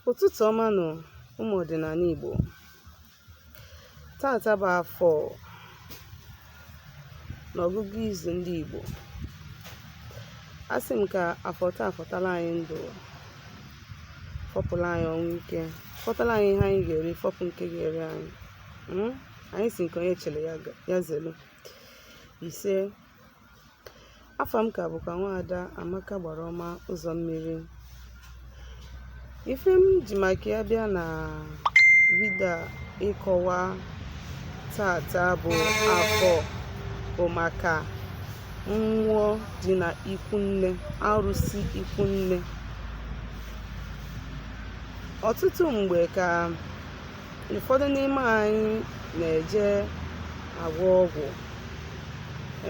Ụtụtụ ọma nụ ụmụ ọdịnala Igbo. Tata bụ afọ n'ọgụgụ izu ndị Igbo. Asị m ka afọ taa fọtala anyị ndụ, fọpụla anyị ọnwụ ike, fọtala anyị ihe anyị ga-eri, fọpụ nke ga-eri anyị. Hmm? Anyị si nke onye chere ya zelu. Ise afa m ka bụkwa nwaada Amaka agbara ọma ụzọ mmiri ife m ji maka ya bịa na vidio ịkọwa tata bụ afọ bụ maka mmụọ dị na ikwunne arụsị ikwunne ọtụtụ mgbe ka ụfọdụ n'ime anyị na-eje agwọ ọgwụ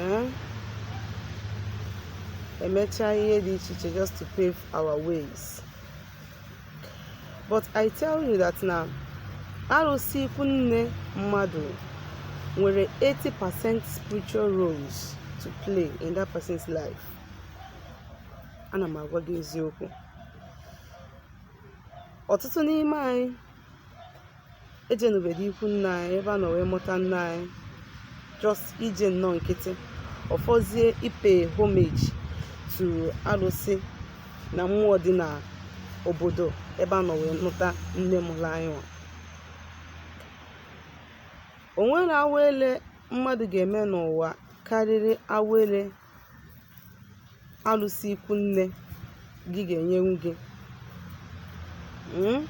eh? emechaa ihe dị iche iche just to pave our ways but i tell you that na arụsị ikwu nne mmadụ nwere 80% spiritual roles to play in that person's life ana m agwa gị eziokwu ọtụtụ n'ime anyị ejenubedị ikwu nne anyị ebe a nọ wee mụta nne anyị just ije nnọọ nkịtị ọ fọzie ị-pay homage to arụsị na mmụọ dị na obodo ebe a nọ wee nụta nne mụrụ anyị nwa o nwere awele mmadụ ga-eme n'ụwa karịrị awele alụsị ikwu nne gị ga-enyenwu gị hmm?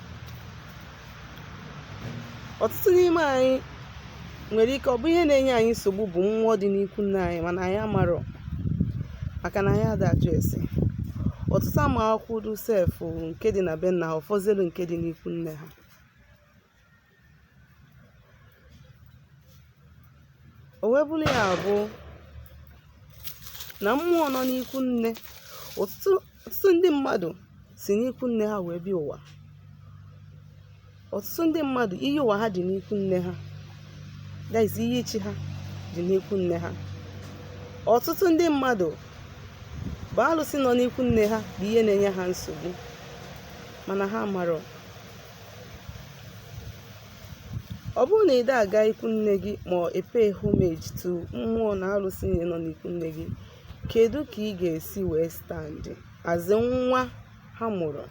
ọtụtụ n'ime anyị nwere ike ọ bụ ihe na-enye anyị nsogbu bụ mmụọ dị n'ikwu nne anyị mana anyị amarọ maka na anyị ada ajụ ese ọtụtụ ama akwụkwọ sef nke dị na be nna ha ọ fọzie nke dị n'ikwu nne ha O wee bụrụ ya bụ na mmụọ nọ n'ikwu nne ọtụtụ ndị mmadụ si n'ikwu nne ha wee bịa ụwa ọtụtụ ndị mmadụ iyi ụwa ha dị n'ikwu nne ha that is iyi chi ha dị n'ikwu nne ha ọtụtụ ndị mmadụ bụ alụsị nọ n'ikwu nne ha bụ ihe na-enye ha nsogbu mana ha marọ ọ bụrụ na ị da aga ikwu nne gị ma ọ e-pay homage to mmụọ na arụsị niile nọ n'ikwu nne gị kedu ka ị ga-esi wee stand as nwa ha mụrụ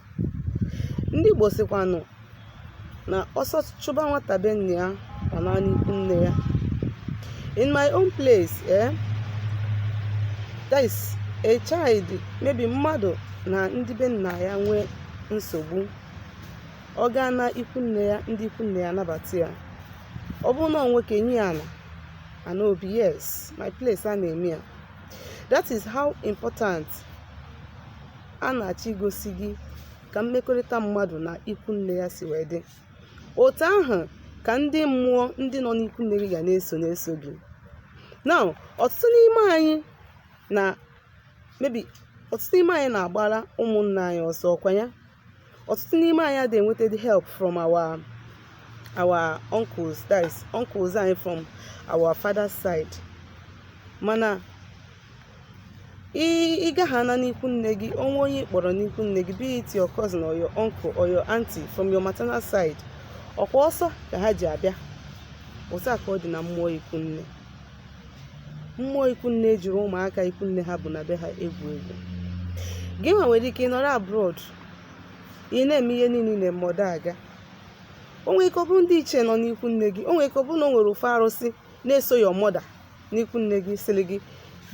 ndị Igbo sịkwanụ na ọsọ chụba nwata be nna ya ọ naa n'ikwu nne ya in my own place eh, that is a child maybe mmadụ na ndị be nna ya nwee nsogbu ọ gaa na ikwu nne ya ndị ikwu nne ya anabata ya ọ bụrụ na ọ nwoke enye ya ana ana obi yes my place a na-eme ya that is how important a na-achọ igosi gị ka mmekọrịta mmadụ na ikwu nne ya si wee dị otu ahụ ka ndị mmụọ ndị nọ n'ikwu nne gị ga na-eso na-eso gị now ọtụtụ n'ime anyị na maybe ọtụtụ n'ime anyị na-agbara ụmụnna anyị ọsọ ọkwa ya ọtụtụ n'ime anyị adịghị enwetadị help from our our uncles that is uncles anyị from our father's side mana ị gaha ana n'ikwu nne gị o nwee onye ị kpọrọ n'ikwu nne gị be it your cousin or your uncle or your auntie from your maternal side ọkwa ọsọ ka ha ji abịa otu a ka ọ dị na mmụọ ikwu nne mmụọ ikwu nne ejirọ ụmụaka ikwu nne ha bụ na be ha egwu egwu gị nwa nwere ike ịnọrọ abroad ị na-eme ihe niile ị na-eme ọ da aga o nwere ike ọ bụrụ ndị ichie nọ n'ikwu nne gị o nwere ike ọ bụrụ na o nwere ofu arụsị na-eso your mother n'ikwu nne gị sịrị gị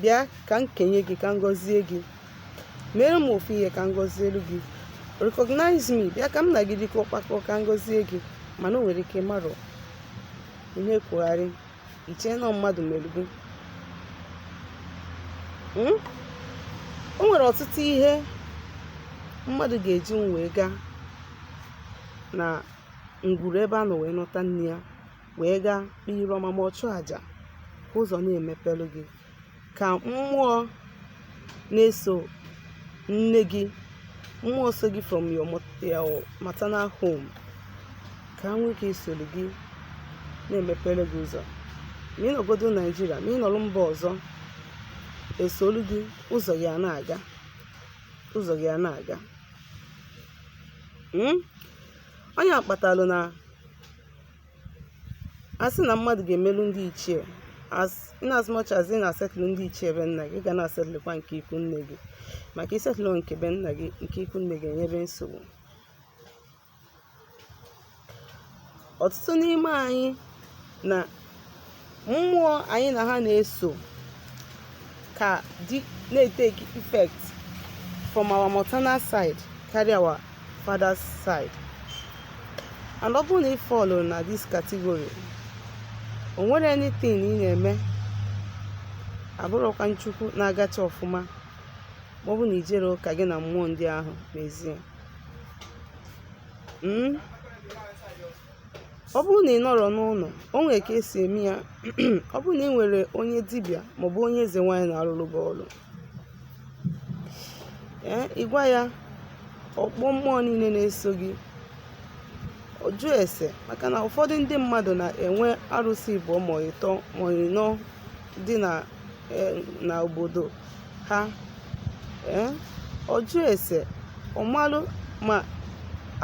bịa ka m kenye gị ka m gọzie gị mere m ofu ihe ka m gọzielu gị recognize me bịa ka m na gị dịkọọ kpakọọ ka m gọzie gị mana o nwere ike ị marọ ihe kwugharị i chee na mmadụ mere gị hmm? o nwere ọtụtụ ihe mmadụ ga-eji wee gaa na ngwuru ebe a nọ wee nụta nne ya wee gaa kpee ire ọma ma ọ chụọ àjà ka ụzọ na-emepelu gị ka mmụọ na-eso nne gị mmụọ so gị from your maternal home ka ha nwee ike isolu gị na-emepelu gị ụzọ ma ị nọgodo naịjirịa ma ị nọrọ mba ọzọ esolu gị ụzọ gị a na-aga ụzọ gị a na-aga hmm? ọ nya kpatalụ na a sị na mmadụ ga-emelụ ndị ichie as in as much as ị na-asetụlụ ndị ichie be nna gị ga na-asetụlụkwa nke ikwu nne gị maka ị setụlụ nke be nna gị nke ikwu nne gị enyebe nsogbu ọtụtụ n'ime anyị na mmụọ anyị na ha na-eso ka dị na-eteki effect from our maternal side karịa our father's side and ọ bụrụ na ị fọlụ na this category o nwerọ anything ị na-eme abụrụkwa na chukwu na-agacha ọfụma ma ọ bụ na i jerọ ka gị na mmụọ ndị ahụ mezie hmm? ọ bụrụ na ị nọrọ n'ụlọ o nwere ka e si eme ya ọ bụrụ na ị nwere onye dibịa maọbụ onye eze nwaanyị na-arụrụ gị ọrụ ee ị gwa ya ọ kpọọ mmụọ niile na-eso gị ọ jụọ ese maka na ụfọdụ ndị mmadụ na-enwe arụsị ịbụọ ma ịtọ ma ịnọ dị na e, obodo ha ee ọ jụọ ese ọ malụ ma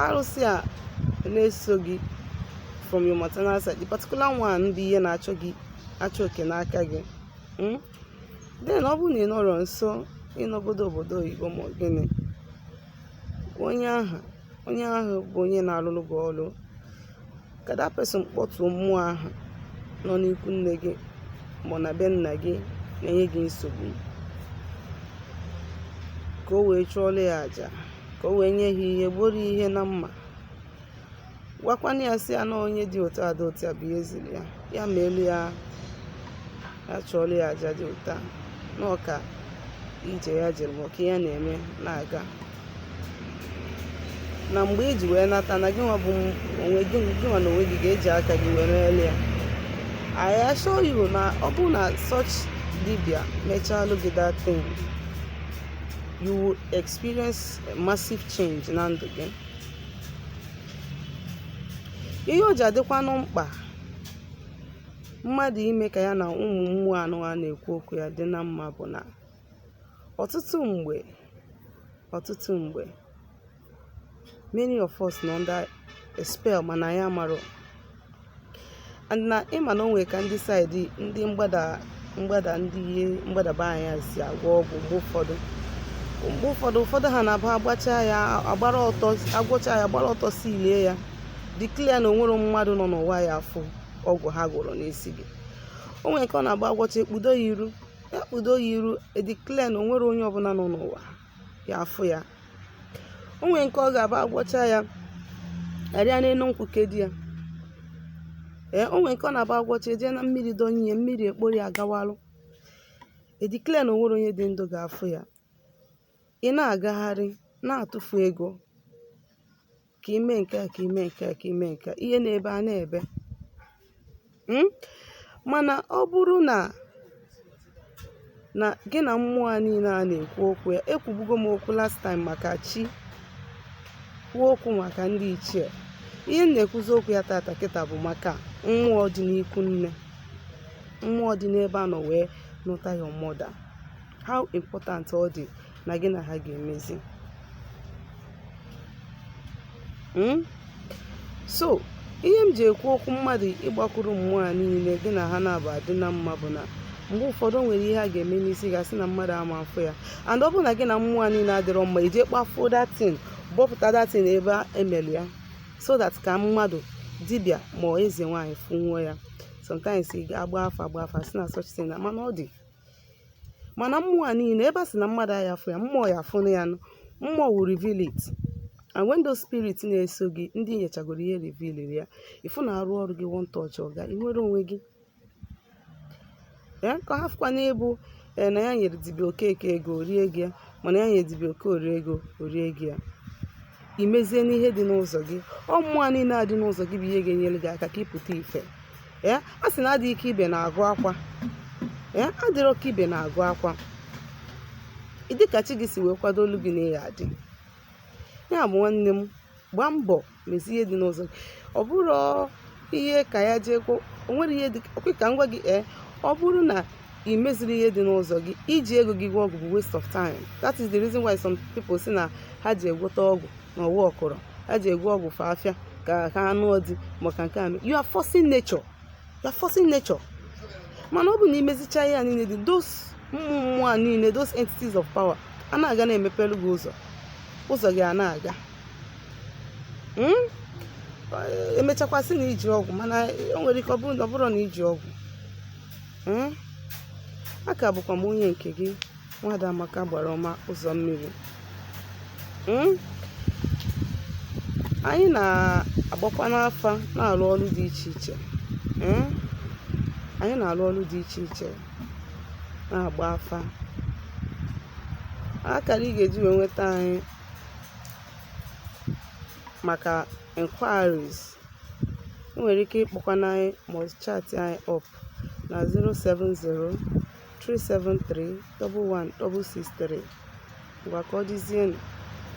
arụsị a na-eso gị from your maternal side the particular one ndị ihe na-achọ oke n'aka gị hmm? then ọ bụrụ na ị nọrọ nso ị nọgodu obodo oyibo ma gịnị onye ahụ onye ahụ bụ onye na-alụlụ gị ọlụ ka that person kpọtuo mmụọ ahụ nọ n'ikwu nne gị ma na be nna gị na-enye gị nsogbu ka o wee chụọlụ ya aja ka o wee nye ha ihe gbuoro ihe na mma gwakwanụ ya sị ya na onye dị otu a dị otu a bụ ya zili ya ya meelụ ya achụọlụ ya aja dị otu a na ọka ije ya jere ma ọka ya na-eme na-aga na mgbe i ji wee nata na gị nwa bụ onwe gị nwa na onwe gị ga-eji aka gị wee meelụ ya I assure you na ọ bụrụ na such dibia mechaalụ gị that thing you will experience massive change na ndụ gị ihe o ji adịkwanụ mkpa mmadụ ime ka ya na ụmụ mmụọ anụwa na-ekwu okwu ya dị na mma bụ na ọtụtụ mgbe ọtụtụ mgbe many of us nọ under a spell mana anyị amarọ and na ị ma na o nwere ka ndị side ndị mgbada mgbada ndị ihe mgbadaba anya si agwọ ọgwụ mgbe ụfọdụ mgbe ụfọdụ ụfọdụ ha na-abụ agwọcha ya agbara ọtọ si lie ya declare na o nwerọ mmadụ nọ n'ụwa ya-afụ ọgwụ ha gwọrọ n'isi gị o nwere nke ọ na-aba agwọcha ekpudo ya iru ya kpudo ya iru e declare na o nwerọ onye ọbụla nọ n'ụwa ya-afụ ya o nwere nke ọ ga-aba agwọcha ya arịa n'elu nkwụ kedo ya ee o nwere nke ọ na-aba agwọcha eje na mmiri donye ya mmiri ekporo ya gawalụ e declare na o nwerọ onye dị ndụ ga-afụ ya ị na-agagharị na-atụfu ego ka ime nke a ka ime nke a ka ime nke a ihe na-ebe a na-ebe hmm? mana ọ bụrụ na na gị na mmụọ a niile a na-ekwu okwu ya ekwubugo m okwu last time maka chi kwuo okwu maka ndị ichie ihe m na-ekwuzi okwu ya tata kịta bụ maka mmụọ dị n'ikwu nne mmụọ dị n'ebe a nọ wee nụta ya mọda how important ọ dị na gị na ha ga-emezi hmm? so ihe m ji ekwu okwu mmadụ ịgbakwuru mmụọ a niile gị na ha na-abụ adị na mma bụ na mgbe ụfọdụ nwere ihe a ga-eme n'isi gị a sị na mmadụ ama afụ ya and ọ bụrụ na gị na mmụọ a niile adịrọ mma ị je kpafuo that thing bọpụta that thing ebe e mere ya so that ka mmadụ dibịa ma eze nwaanyị fụnwuo ya sometimes ị ga-agba afa agba afa a sị na such thing na mana ọ dị mana mmụọ a niile ebe a sị na mmadụ aya afụ ya mmụọ ya afụ na ya nụ mmụọ will reveal it and when those spirits na-eso gị ndị nyechagoro ihe reveal ya ị fụ na a rụọ ọrụ gị one touch ọ gaa ị nwere onwe gị ya ka hafụkwanụ ịbụ ee eh, na ya nyere dibịa okeke ego o rie gị ya mana ya nyere dibịa okorie ego o rie gị ya i mezie n'ihe dị n'ụzọ gị ọ mmụọ niile a dị n'ụzọ gị bụ ihe ga-enyere gị aka ka ị pụta ife ee a sị na adịghị ka ibe na-agụ akwa ee adịrọ ka ibe na-agụ akwa ị dị ka chi gị si wee kwadoolu gị na ị ya-adị ya bụ nwanne m gbaa mbọ mezie ihe dị n'ụzọ gị ọ bụrụ ihe ka ya jee kwuo o nwere ihe dị ọkwa ka m gwa gị ee ọ bụrụ na ị mezirọ ihe dị n'ụzọ gị iji ego gị gwọ ọgwụ bụ waste of time that is the reason why some people sị na ha je gwọta ọgwụ na ọ workụrọ ha je gwọ ọgwụ fa afịa ka ha anụ ọdị maka nke a you are forcing nature you are forcing nature mana ọ bụ na ị mezicha ihe a niile dị those mmụọ mmụọ a niile those entities of power a na-aga na-emepelu gị ụzọ ụzọ gị a na-aga hmm? e mechakwa sị na i ji ọgwụ mana o nwere ike ọ bụrọ na i ji ọgwụ ee aka bụkwa m onye nke gị nwada amaka agbara ọma ụzọ mmiri hmm? anyị na-agbakwanụ afa na-arụ ọrụ dị iche iche hmm? anyị na-arụ ọrụ dị iche iche na-agba afa akara ị ga-eji wee nweta anyị maka inquiries nwere ike ịkpọkwanụ anyị ma ọ chat anyị up na 070-373-11163 ngwa ka ọ dịzienụ